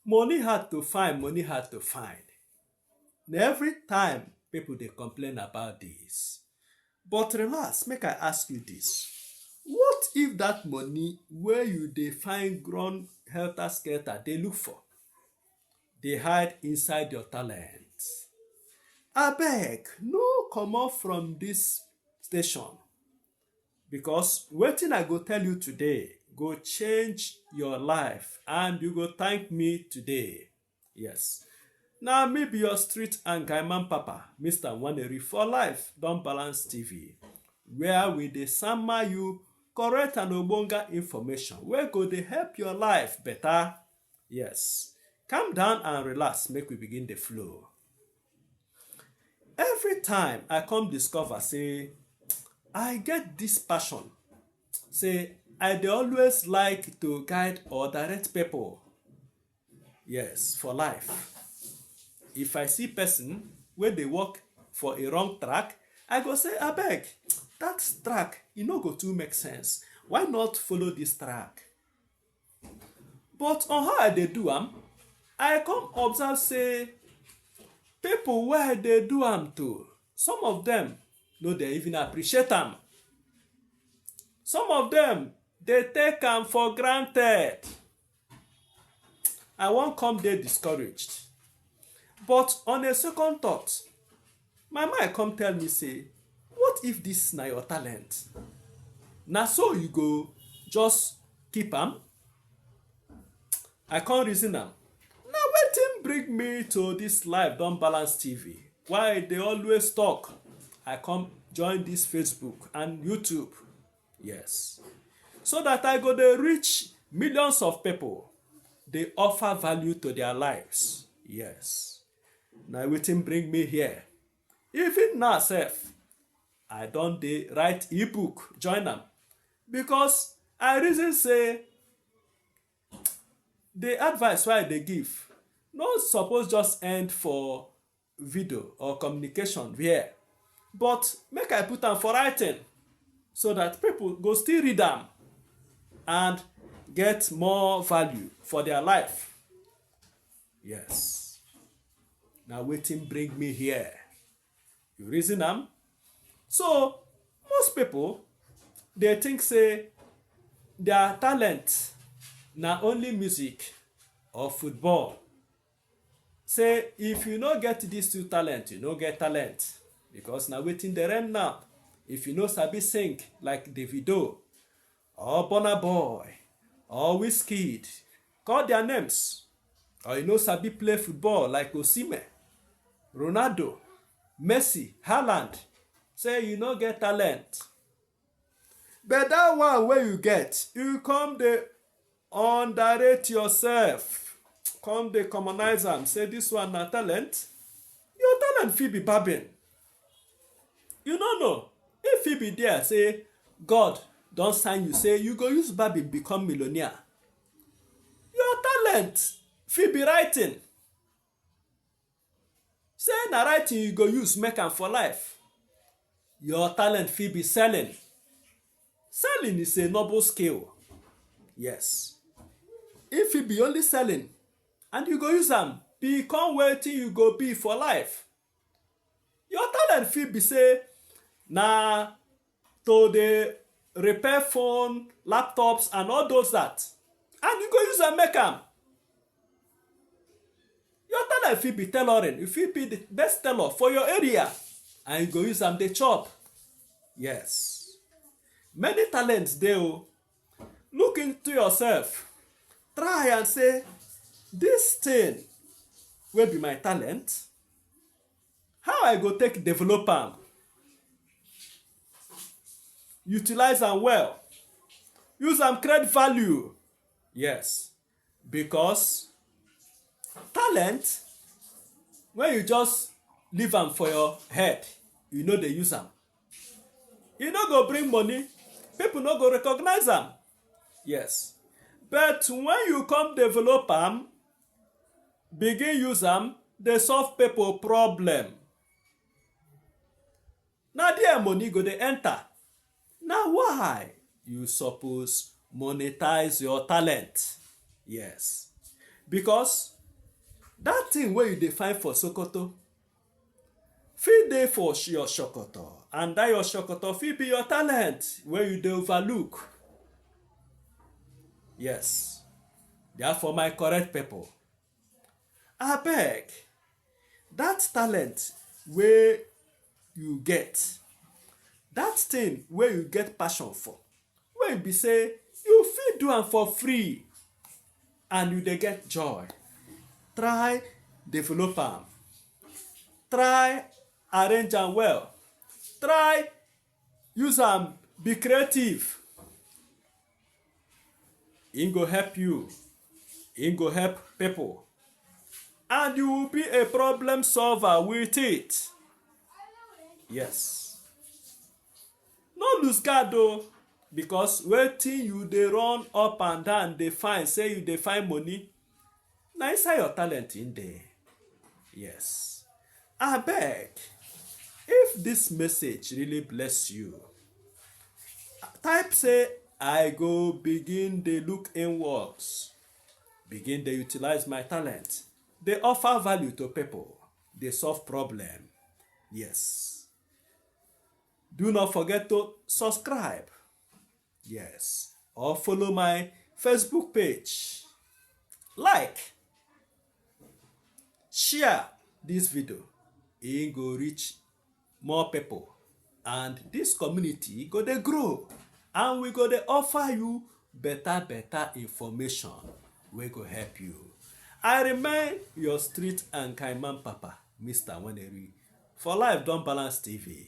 Money hard to find, money hard to find. Na every time people dey complain about this. But relax, make I ask you this. What if that money wey you dey find run helter skelter dey look for dey hide inside your talent? Abeg, no comot from this station because wetin I go tell you today go change your life and you go thank me today. Yes. Now me be your street and Gaiman Papa, Mr. Waneri for life, Don Balance TV, where we dey sama you correct and ogbonga information wey go dey help your life better Yes. Calm down and relax, make we begin the flow. Every time I come discover, say, I get this passion. Say, I dey always like to guide or direct people. Yes, for life. If I see person where they walk for a wrong track, I go say, I beg, that track, it e no go too make sense. Why not follow this track? But on how I dey do am, I come observe say people wey I dey do am to, some of them no dey even appreciate am. Some of them dey take am for granted. I wan come dey discouraged. But on a second thought, My mind come tell me say, what if this na your talent? Na so you go just keep am? I come reason am. Na wetin bring me to this life don balance TV. Why I dey always talk? I come join this Facebook and YouTube. Yes. So that I go dey reach millions of people dey offer value to their lives. Yes. na wetin bring me here even now sef i don dey write ebook join am because i reason say the advice wey i dey give no suppose just end for video or communication where but make i put am for writing so that people go still read am and get more value for their life Yes. Now waiting bring me here. You reason am? So most people they think say their talent na only music or football. Say if you no get these two talent, you no get talent because na waiting the rent now. If you no sabi sing like Davido, or Burna Boy, or Wizkid, call their names. Or you no sabi play football like Osimhen, Ronaldo, Messi, Haaland, say you no get talent. But that one wey you get, you come dey underrate yourself come dey commonize am say this one na talent your talent fit be barbing you no know if fit be there say god don sign you say you go use barbing become millionaire your talent fit be writing Sey na right tin you go use make am for life, your talent fit be selling. Selling is a noble skill, yes, e fit be only selling and you go use am become wetin you go be for life. Your talent fit be say na to dey repair phone, laptops and all those that and you go use am make am. Your talent fit be tailoring, you fit be the best tailor for your area and you go use am dey chop. Yes, many talents dey o. look into yourself try and say this thing wey be my talent how i go take develop am utilize am well use am create value yes because talent when you just leave am for your head you no dey use am e no go bring money people no go recognize am yes but when you come develop am begin use am dey solve people problem na there money go dey enter na why you suppose monetize your talent yes because that thing wey you dey find for sokoto fit dey for your sokoto and that your sokoto fit be your talent wey you dey overlook yes therefore my correct people abeg that talent wey you get that thing wey you get passion for wey be say you fit do am for free and you dey get joy try develop am try arrange am well try use am be creative e go help you e go help people and you will be a problem solver with it yes no lose guard o because wetin you dey run up and down dey find say you dey find money na inside your talent in dey yes abeg if this message really bless you type say i go begin dey look inwards begin dey utilize my talent dey offer value to people dey solve problem yes do not forget to subscribe Yes. Or follow my Facebook page. Like. Share this video. E go reach more people. And this community go dey grow. And we go dey offer you better better information wey go help you. I remain your street and Kaiman Papa, Mr. Waneri, for Life Don Balance TV.